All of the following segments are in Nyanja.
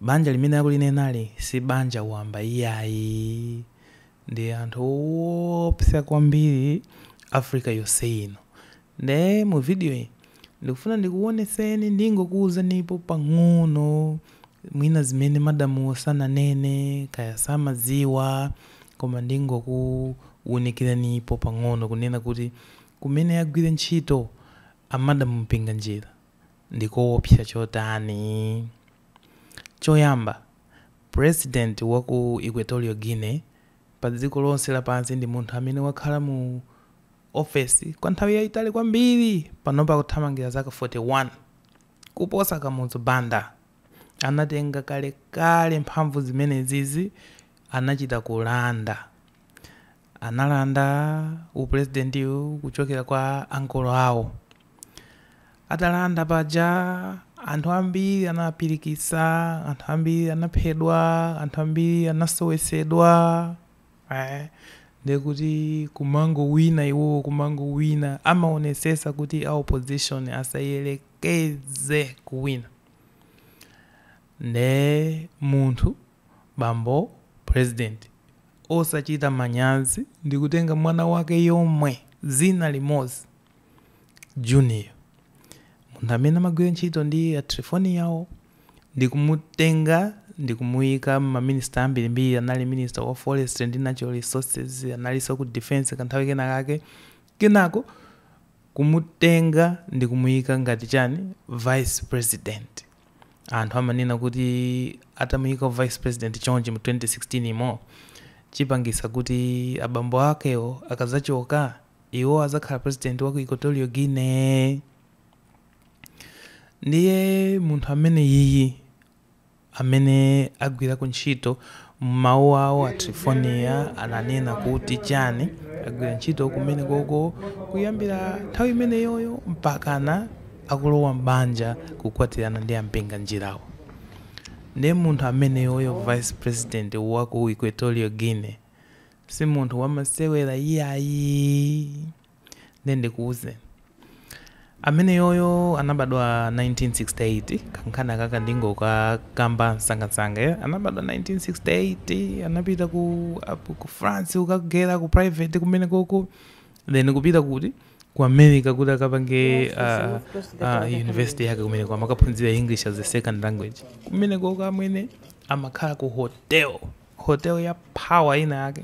Banja limene akulinenali si banja wamba iyayi, ndi anthu owopsa kwambiri Africa yonse ino. Nde mu video yi ndikufuna ndikuwonetseni, ndingokuwuzanipo pang'ono mwina zimene madamuwo sananene kaya samadziwa koma ndingokuwunikiranipo pang'ono kunena kuti kumene agwira ntchito a Madam Mpinganjira ndikowopsa chotani. Choyamba, President wa ku Equatorial Guinea pa dziko lonse lapansi ndi munthu amene wakhala mu ofesi kwa nthawi yaitali kwambiri, panopa akuthamangira zaka 41, kuposa Kamuzu Banda. Anatenga kalekale mphamvu zimenezizi, anachita kulanda. Analanda upulezidentiwu kuchokera kwa ankolo awo. Atalanda paja anthu ambiri anawapirikitsa, anthu ambiri anaphedwa, anthu ambiri anasowetsedwa. Eh, nde kuti kumangowina iwowo kumangowina amaonetsetsa kuti a opposition asayerekeze kuwina. Nde munthu Bambo president osachita manyazi ndikutenga mwana wake yomwe zina limozi junior munthu amene amagwira ntchito ndi a Triphoniyawo ndikumutenga ndikumuyika m'ma ministry ambirimbiri anali minister wa forestry ndi natural resources analiso ku defence kanthawi kena kake kenako kumutenga ndikumuyika ngati chani vice president anthu amanena kuti atamuyika vice president chonchi mu 2016 yimo chipangitsa kuti abambo akewo akazachoka iwo azakhala president wa ku Equatorial Guinea ndiye munthu ameneyuyu amene agwirako ntchito M'mawu awo, a Triphoniya ananena kuti chani agwira ntchito kumenekoko kuyambira nthawi imeneyoyo mpakana akulowa m'banja kukwatirana ndi a Mpinganjirawo. Nde munthu ameneyoyo vice president wa ku Equatorial Guinea si munthu wamasewera iyayi. Nde ndikuuzeni. Ameneyoyo anabadwa 1968, kankhani kakaka ndingokakamba msangamsanga. Anabadwa 1968, anapita ku, up- ku France kukageri ku private kumenekoko, then kupita kuti ku America kuti akapange ah, ah, university yake kumeneko amakaphunzira English as a second language. Kumenekoko amwene amakhala ku hotel, hotel ya power ina yake.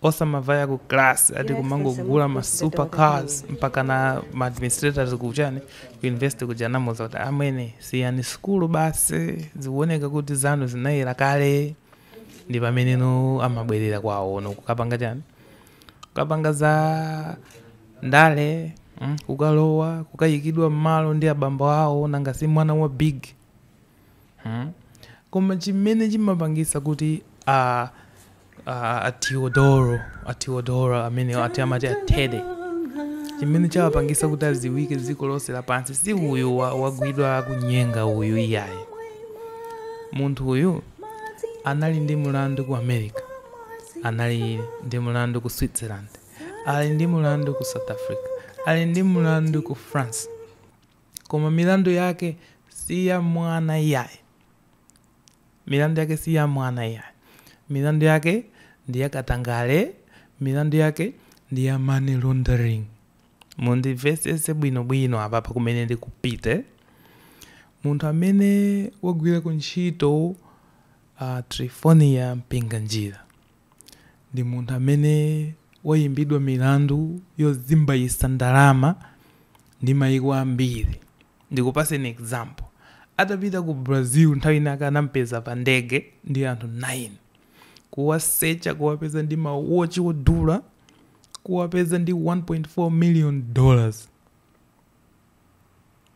osamavaya ku class ati kumangogula ma super cars mpaka na ma administrators kuchani ku university kuja anamuza kuti amwene siyani sukulu basi zikuoneka kuti zanu zinayera kale ndi pameneno amabwerera kwawo no kukapanga chani kukapanga za ndale mm, kukalowa kukayikidwa mmalo ndi abambo awo nanga si mwana wa big Hmm? Koma chimene chimapangisa kuti a a a Teodoro, a Teodoro amene ati amati a Teddy. Chimene chawapangisa kuti adziwike dziko lonse lapansi si uyu wa- wagwidwa kunyenga uyu iyayi. Munthu uyu anali ndi mulandu ku America. Anali ndi mulandu ku Switzerland. Ali ndi mulandu ku South Africa. Ali ndi mulandu ku France. Koma milandu yake si ya mwana iyayi. Milandu yake si ya mwana iyayi. Milandu yake ndi ya katangale, milandu yake ndi ya money laundering. Mundimvetsetse bwinobwino apapa kumene ndikupite. Munthu amene wagwirako ntchito Trifonia Mpinganjira. ndi munthu amene wayimbidwa milandu yozimbayisa ndalama ndi mayiko ambiri ndikupaseni example atapita ku Brazil nthawi inayake anampeza pa ndege ndi anthu 9 kuwasecha kuwapeza ndi ma watch odula kuwapeza ndi 1.4 million dollars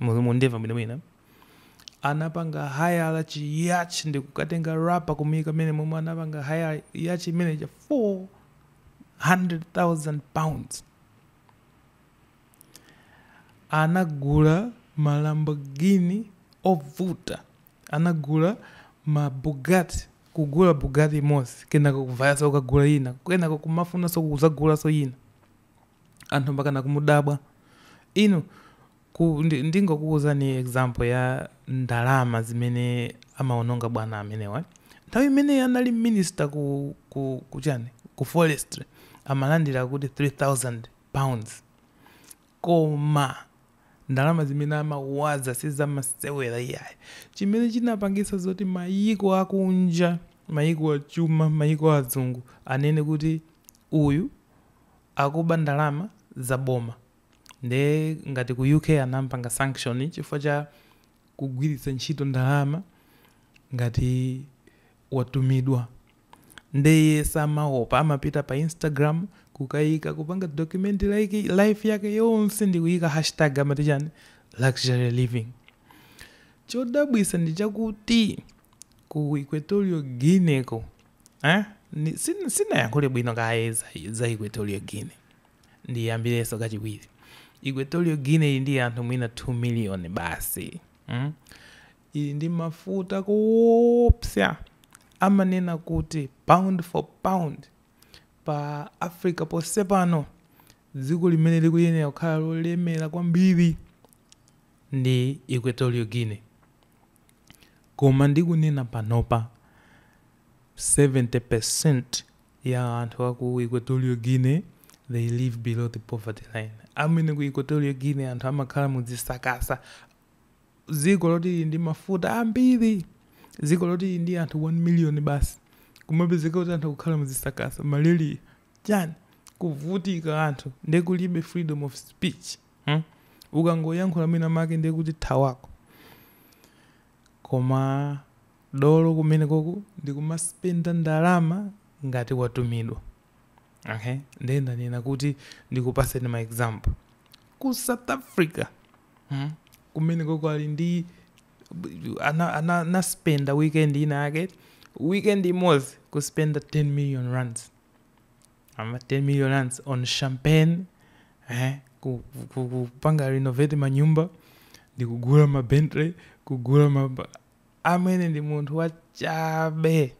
Mu- mundimva bwinobwino anapanga hayala chi yacht ndi kukatenga rapa kumuyika mmenemo mmene anapanga hayala yacht imene cha 400000 pounds anagula ma lamborghini ovuta anagula ma bugatti kugula bugatti imodzi kenako kuvayaso kukagula ina kenako kumafunanso kuzagulanso ina anthu mpakana kumudabwa inu ku, ndi, ndingokuwuzani example ya ndalama zimene amaononga bwana amenewa nthawi imene anali minister ku, ku, ku chani ku forestry amalandira akuti 3000 pounds koma ndalama zimene amawaza sizamasewera iyayi chimene chinapangisa zoti mayiko akunja mayiko achuma mayiko azungu anene kuti uyu akuba ndalama za boma nde ngati ku UK anampanga sanction chifukwa cha kugwiritsa ntchito ndalama ngati watumidwa nde iye samaopa amapita pa Instagram kukayika kupanga document like life yake yonse ndi kuyika hashtag amati chani luxury living chodabwisa ndi chakuti ku Equatorial Guinea ko eh? sinayankhule bwino kaye za equatorial guinea ndiyambirenso kachiwiri equatorial guinea ili ndi anthu mwina 2 million basi mm? ili ndi mafuta kuopsa amanena kuti pound for pound pa africa ponse pano dziko limene likuyenera kukhala lolemera kwambiri ndi equatorial guinea Koma ndikunena panopa, 70% ya anthu aku Equatorial Guinea they live below the poverty line. Amwene ku Equatorial Guinea anthu amakhala mu zisakasa. Dziko loti lili ndi mafuta ambiri, dziko loti lili ndi anthu 1 million basi, kumapezeka kuti anthu akukhala mu zisakasa, malaria, chani, kuvutika anthu, nde kulibe freedom of speech. Hmm? ukangoyankhula mwina make ndiye kuti thawako koma dolo kumenekoku ndi kumaspenda ndalama ngati watumidwa okay ndiye ndanena kuti ndikupaseni ma example ku south africa hmm? kumenekoku ali ndi ana- ana- anaspenda weekend ina yake weekend imodzi kuspenda 10 million rands ama 10 million rands on champagne eh, ku- ku- ku- kupanga renovate manyumba ndikugula ma bentley kugula ma amwene ndi munthu wachabe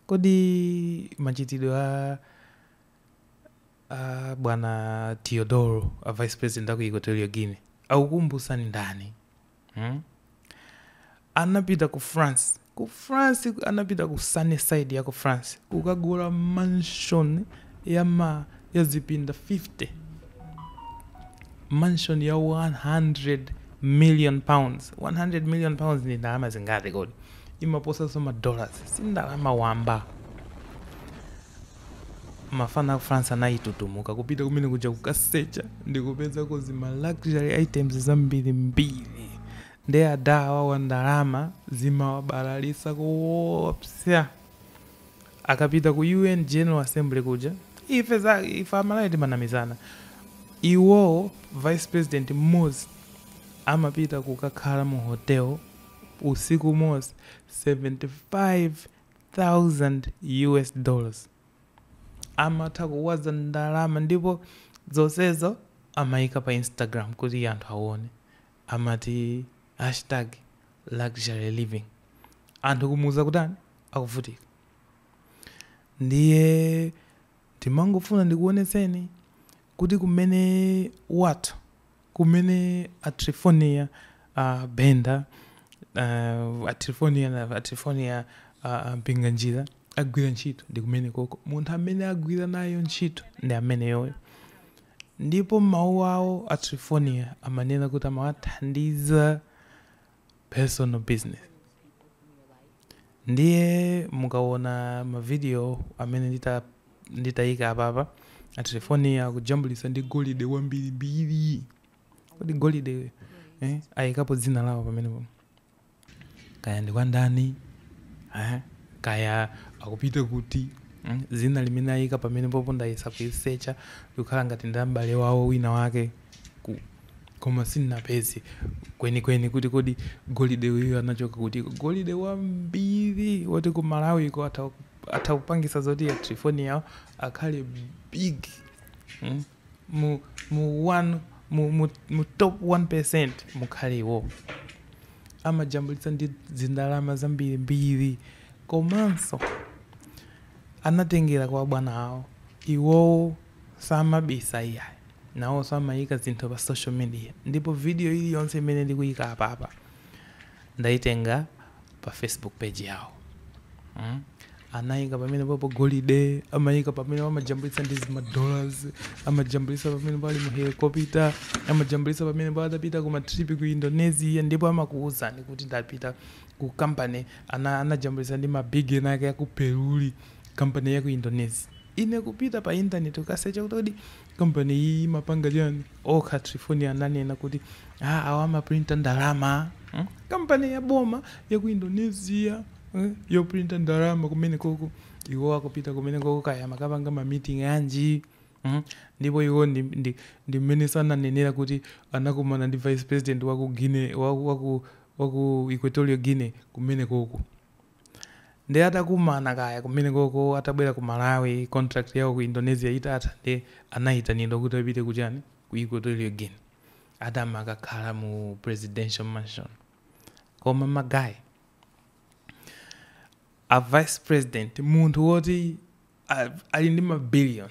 kodi machitidwe a a bwana teodoro a vice president aku equatorial guinea akukumbutsani ndani Hmm? anapita ku france ku france anapita ku sunnyside ya ku france kukagula mansion ya ma ya zipinda 50 mansion ya 100 million pounds 100 million pounds ndi ndalama zingati kodi imaposanso madollars si ndalama wamba Mafana aku France anayitutumuka kupita kumene kuja kukasecha ndikupezako zi ma luxury items zambirimbiri nde adha awawa ndalama zimawabalalitsa koopsa akapita ku UN General Assembly kuja ife anzathu ife amalawi timanamizana iwowo vice president mmozi amapita kukakhala mu hotel usiku umozi 75 thousand US dollars amatha kuwaza ndalama ndipo zonsezo amayika pa Instagram kuti anthu awone amati hashtag luxury living anthu kumuuza kuti anthu akuvutika ndiye ndimangofuna ndikuonetseni Kuti kumene what? Kumene a Triphonia Banda uh, a Triphonia na a Triphonia a a Mpinganjira agwira ntchito ndi kumene koko. Munthu amene agwira nayo ntchito ndi ameneyoyo. Ndipo m'mawu awo a Triphonia amanena kuti amawathandiza personal business ndiye mukawona ma video amene ndita nditaika apapa a Triphonia akujambulitsa ndi golide wambirimbiri kodi golide eh, ayikapo dzina lawo pamenepo kaya ndi kwa ndani eh, kaya akupita kuti mm, dzina limene ayika pamenepopo ndayesa kulisecha likukhala ngati ndi m'bale wawo wina wake ku. Koma sindinapeze kwenikweni kuti kodi golide uyu anachoka kutiko. Golide wambiri woti ku Malawiko atha, atha kupangisa zoti a Trifonia awo akhale big mm, mu, mu, one, mu, mu, mu top 1% mukhale iwo amajambulitsa ndi zindalama zambirimbiri komanso anatengera kwa bwana awo iwowo samabisa iyayi. Nawoso amayika zinthu pa social media ndipo video iliyonse imene ndikuyika apapa ndayitenga pa Facebook page yawo mm amayika pamenepopo golide amayika pamenepo amajambulitsa ndi zima dollars amajambulitsa pamenepo ali mu helicopter amajambulitsa pamenepo atapita ku matrip ku Indonesia ndipo amakuwuzani kuti ndapita ku company ana anajambulitsa ndi ma big ena ake aku Peruli Kampani ya ku Indonesia Ine kupita pa intaneti kukasecha kuti kodi kampani iyi imapanga chani okha a Trifoniawo ananena kuti ah awa amaprinta ndalama mm kampani ya boma ya ku Indonesia mm yoprinta ndalama kumenekoko iwo akupita kumenekoko kaya amakapanga ma meeting anji mm ndipo iwo ndi ndi ndi mmenenso ananenera kuti anakumana ndi vice president wa ku Guinea wa ku wa ku Equatorial Guinea kumenekoko Nde atakumana kaya kumenekoko atabwera ku Malawi contract yawo ku Indonesia itatha nde anayitanidwa kuti apite ku chani ku Equatorial Guinea ati amakakhala mu presidential mansion koma ma guys a vice president munthu woti a- ali ndi ma billion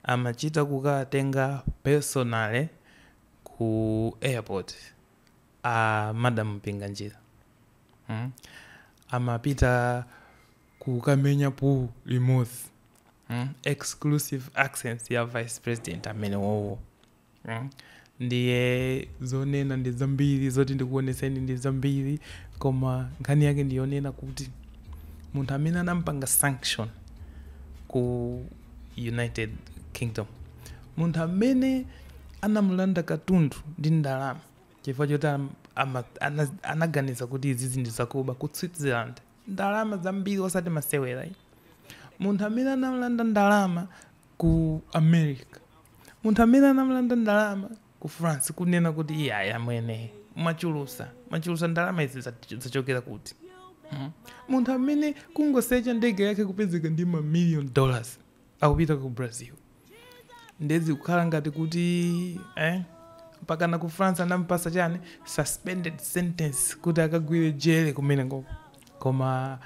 amachita kukatenga personally ku airport a madam Mpinganjira mm? amapita kukamenya pool limodzi mm? exclusive accents ya vice president amene wowo mm? ndiye zonena ndi zambiri zoti ndikuonetseni ndi zambiri koma nkhani yake ndiyonena kuti munthu amene anampanga sanction ku united kingdom munthu amene anamulanda katundu ndi ndalama chifukwa choti am- ama- ana- anaganiza kuti izizi ndi zakuba ku switzerland ndalama zambiri osati masewera ayi. munthu amene anamulanda ndalama ku america munthu amene anamulanda ndalama ku france kunena kuti iyayi amwene mwachulusa mwachulusa ndalama izi za- zachokera kuti Mhm. munthu amene kungosecha ndege yake kupezeka ndi mamillion dollars akupita ku brazil ndiye zikukhala ngati kuti eh, mpakana ku france anampasa chani suspended sentence kuti akagwire jere kumene koko koma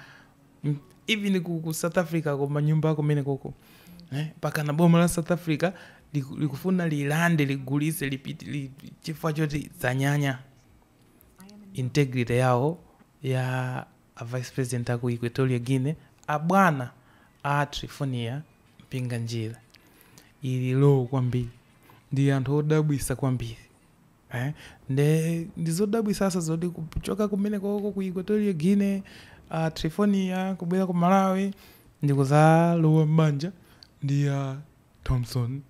mm, even ku, ku south africa koma nyumba kumene koko eh, pakana boma la south africa liku- likufuna lilande ligulise lipiti li, chifukwa choti zanyanya integrity yawo ya A Vice President aku Equatorial Guinea a bwana a Triphonia Mpinganjira ili low kwambiri ndi anthu odabwisa kwambiri eh? nde ndizodabwisaso zoti kuchoka kumene koko ku Equatorial Guinea a Triphonia kubwera ku Malawi ndikuzalowa m'banja ndi a Thomson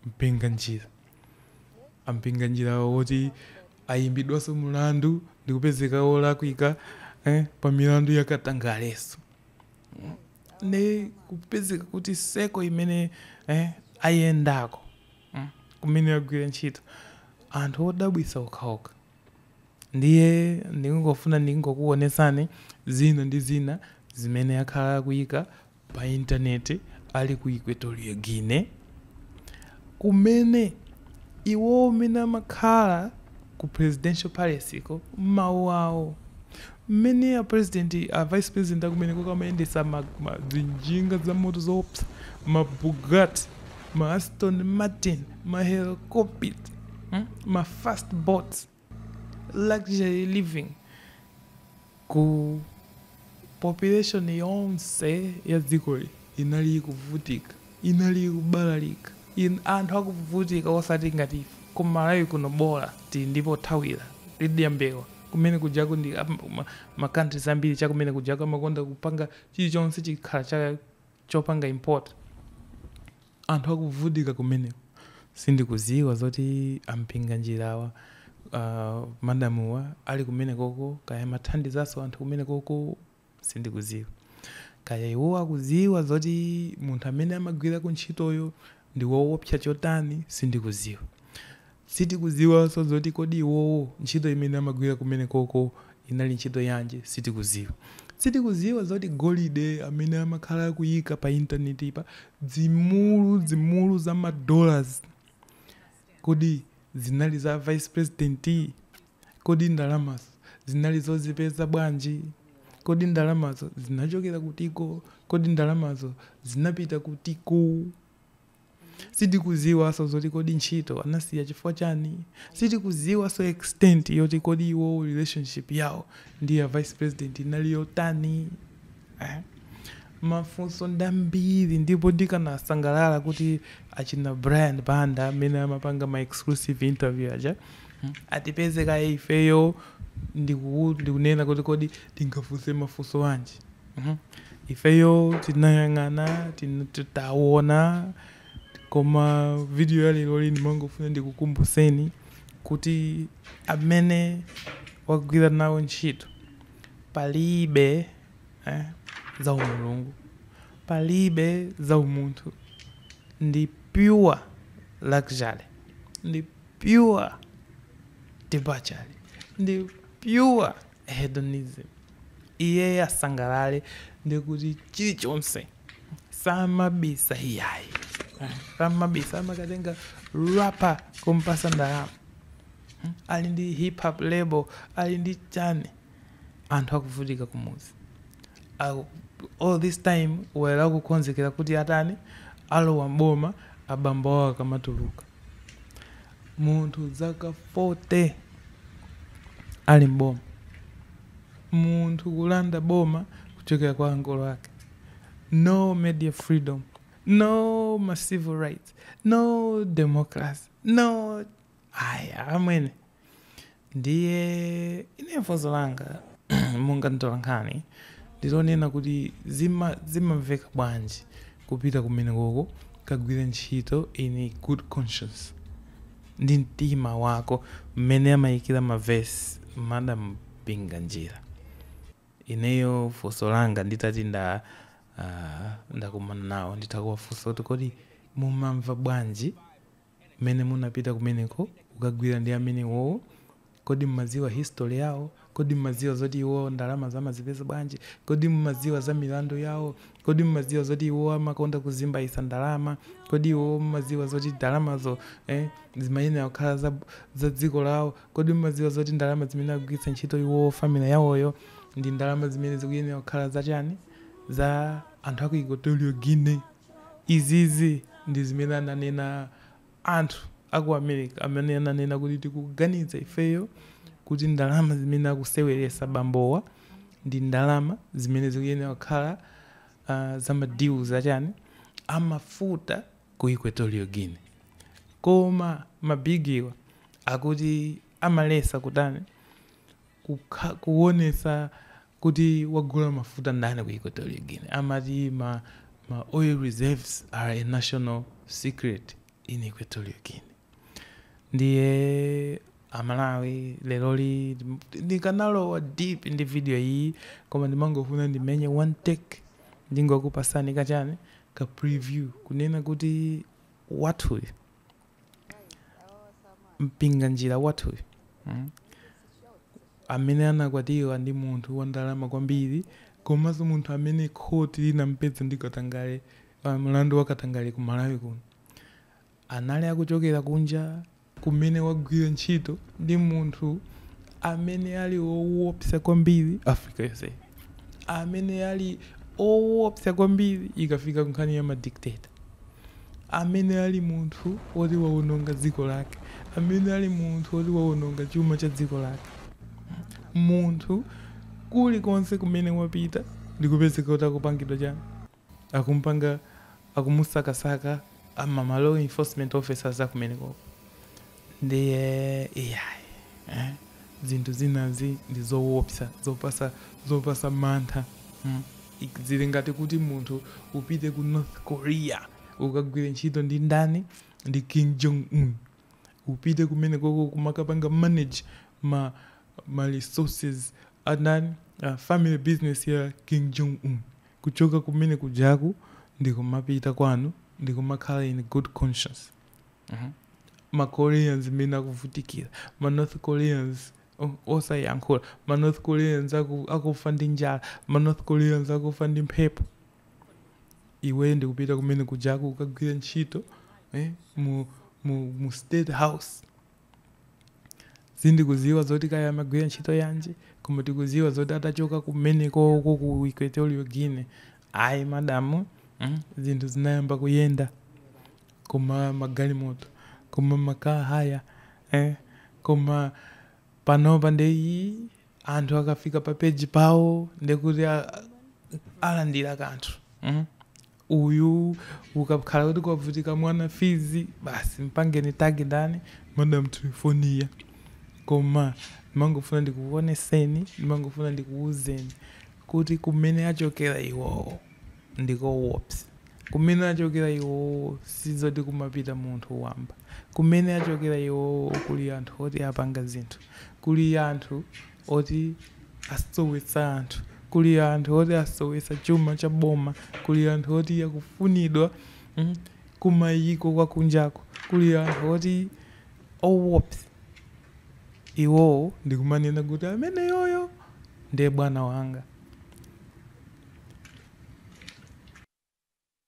Mpinganjira. A Mpinganjira woti ayimbidwaso mulandu ndikupezeka wolakwika eh, pa milandu ya katangaleso ne kupezeka kuti dziko imene eh, ayendako mm, kumene agwira ntchito anthu odabwisa okhaokha ndiye ndingofuna ndingokuonesani zina ndi zina zimene akhala akuyika pa Intaneti ali ku Equatorial Guinea, kumene iwo mmene amakhala ku Presidential Palace ko, mawu awo, mmene a President, a Vice President a kumeneko amayendetsa ma, ma, zinjinga zamoto zoopsa, ma Bugatti, ma Aston Martin, ma Helicopter, hm, ma Fast Boats. luxury living ku population yonse ya dzikoli inali ikuvutika inali ikubalalika in, anthu akuvutika osati ngati ife ku malawi kuno bola tili ndi pothawira tidya mbewa kumene kujaku ndi ma countries ambiri chakumene kujaku amakonda kupanga chilichonse chikhala cha chopanga import Anthu akuvutika kumeneko sindikuziwa zoti a Mpinganjirawa uh, madamuwa ali kumenekoko kaya amathandizanso anthu kumenekoko sindikuziwa kaya iwo akuziwa zoti munthu amene amagwira kuntchitoyo ndi woopsa chotani sindikuziwa Sitikudziwanso zoti kodi iwowo ntchito imene amagwira kumenekoko inali ntchito yanji, sitikudziwa. Sitikudziwa zoti golide amene amakhala akuyika pa intanetipa, zimulu zimulu za ma dollars, kodi zinali za vice president? Kodi ndalamazo zinali zozipeza bwanji? Kodi ndalamazo zinachokera kutiko? Kodi ndalamazo zinapita kutiko? sitikuziwanso zoti kodi ntchito anasiya chifukwa chani sitikuziwanso extent yoti kodi iwowo relationship yawo ndi a vice president inali yotani eh? mafunso ndambiri ndipo ndikanasangalala kuti achina brian banda amene amapanga ma exclusive interview aja mm, atipeze kaye ifeyo ndiku- ndikunena kuti kodi tingafunse mafunso anji Ifeyo tinayang'ana, taona, koma video ya leroli ndimangofuna ndikukumbutseni kuti amene wagwira nawo ntchito palibe za umulungu, palibe za umunthu, ndi pure luxury, ndi pure debauchery, ndi pure. hedonism, iyeyo asangalale ndi kuti chilichonse samabisa iyayi samabisa amakatenga rapa kumpasa ndalama Hmm? ali ndi hip hop label ali ndi chani anthu akuvutika kumudzi Aku- all this time were akukonzekera kuti atani alowa mboma abambo awo akamatuluka Munthu zaka 40 ali m'boma, munthu kulanda boma kuchokera kwa ankolo ake, no media freedom, no ma civil rights, no democracy, no aya amwene. ndiye ineyo funso langa monga mtolankhani ndilonena kuti zima- zimamveka bwanji kupita kumenekoko kukagwira ntchito in a good conscience ndi mtima wako mmene amayikira mavesi madam Mpinganjira ineyo funso langa nditati nda ah, ndakumana nawo nditha kuwafunsa kuti kodi mumamva bwanji Mmene munapita kumeneko kukagwira ndi amene iwowo? Kodi mumadziwa history yawo? Kodi mumadziwa zoti iwowo ndalamazo amazipeza bwanji? Kodi mumadziwa za milandu yawo? Kodi mumadziwa zoti iwowo amakonda kuzimbaitsa ndalama? Kodi iwowo mumadziwa zoti ndalamazo, eh, zimayenera kukhala za, za dziko lawo? Kodi mumadziwa zoti ndalama zimene akugwiritsa ntchito iwowo family yawoyo ndi ndalama zimene zikuyenera kukhala za chani? Za anthu aku Equatorial Guinea? Izizi ndi zimene ananena anthu a ku America amene ananena kuti tikuganiza ifeyo kuti ndalama zimene akuseweresa bambowa ndi ndalama zimene zikuyenera kukhala uh, za ma deals achani amafuta ku Equatorial Guinea koma mabigiwa akuti amaletsa kutani kukha, kuwonetsa kuti wagula mafuta ndani ku Equatorial Guinea. Amati ma ma oil reserves are a national secret in Equatorial Guinea. Ndiye aMalawi leroli ndikanalowa deep ndi video iyi koma ndimangofuna ndimenye one take ndingokupasani kachani ka preview kunena kuti wathuyu Mpinganjira wathuyu mm, amene anakwatiwa ndi munthu wa ndalama kwambiri komanso munthu amene khoti linampeza ndi katangale ah, mlandu wa katangale ku Malawi kuno anali akuchokera kunja kumene wagwira ntchito ndi munthu amene ali owopsa kwambiri Africa yonse amene ali owopsa kwambiri ikafika kunkhani ya madictator amene ali munthu woti wawononga dziko lake, amene ali munthu woti wawononga chuma cha dziko lake. Munthu kulikonse kumene wapita ndikupezeka kuti akupangidwa chani, akumpanga, akumusakasaka ma law enforcement officers akumenekoko. Ndiye iyayi eh? zinthu zinazi ndi zowopsa zopatsa zopatsa mantha mm? Ik- zili ngati kuti munthu upite ku North Korea ukagwire ntchito ndi ndani ndi Kim Jong Un upite kumene koko kumakapanga manage ma, ma resources andani uh, family business ya Kim Jong Un kuchoka kumene kujaku ndikumapita kwanu ndikumakhala in good conscience ma koreans mmene akuvutikira ma north koreans o- osayankhula ma north koreans aku- akufa ndi njala ma north koreans akufa ndi mphepo iweyo ndikupita kumene kujaku kukagwira ntchito eh, mu, mu, mu state house Sitikuziwa zoti kaya amagwira ntchito yanji koma tikuziwa zoti atachoka kumeneko uko ku Equatorial Guinea ayi madamu mm, zinthu zinayamba kuyenda koma magalimoto koma makaa haya eh, koma panopa nde iyi anthu akafika pa peji pawo ndekuti a- alandira kanthu mm. Uyu akakhala kuti kwavuta mwana fees basi mpangeni tag ndani madam Triephornia koma ndimangofuna ndikuwoneseni ndimangofuna ndikuwuzeni kuti kumene achokera iwowo ndikowopsa kumene achokera iwowo sizoti kumapita munthu wamba kumene achokera iwowo kuli anthu oti apanga zinthu kuli anthu oti asowetsa anthu, kuli anthu oti asowetsa chuma cha boma, kuli anthu oti akufunidwa kumayiko akunjako, kuli anthu oti owopsa iwowo ndi kumanena kuti ameneyoyo ndiye bwana wanga.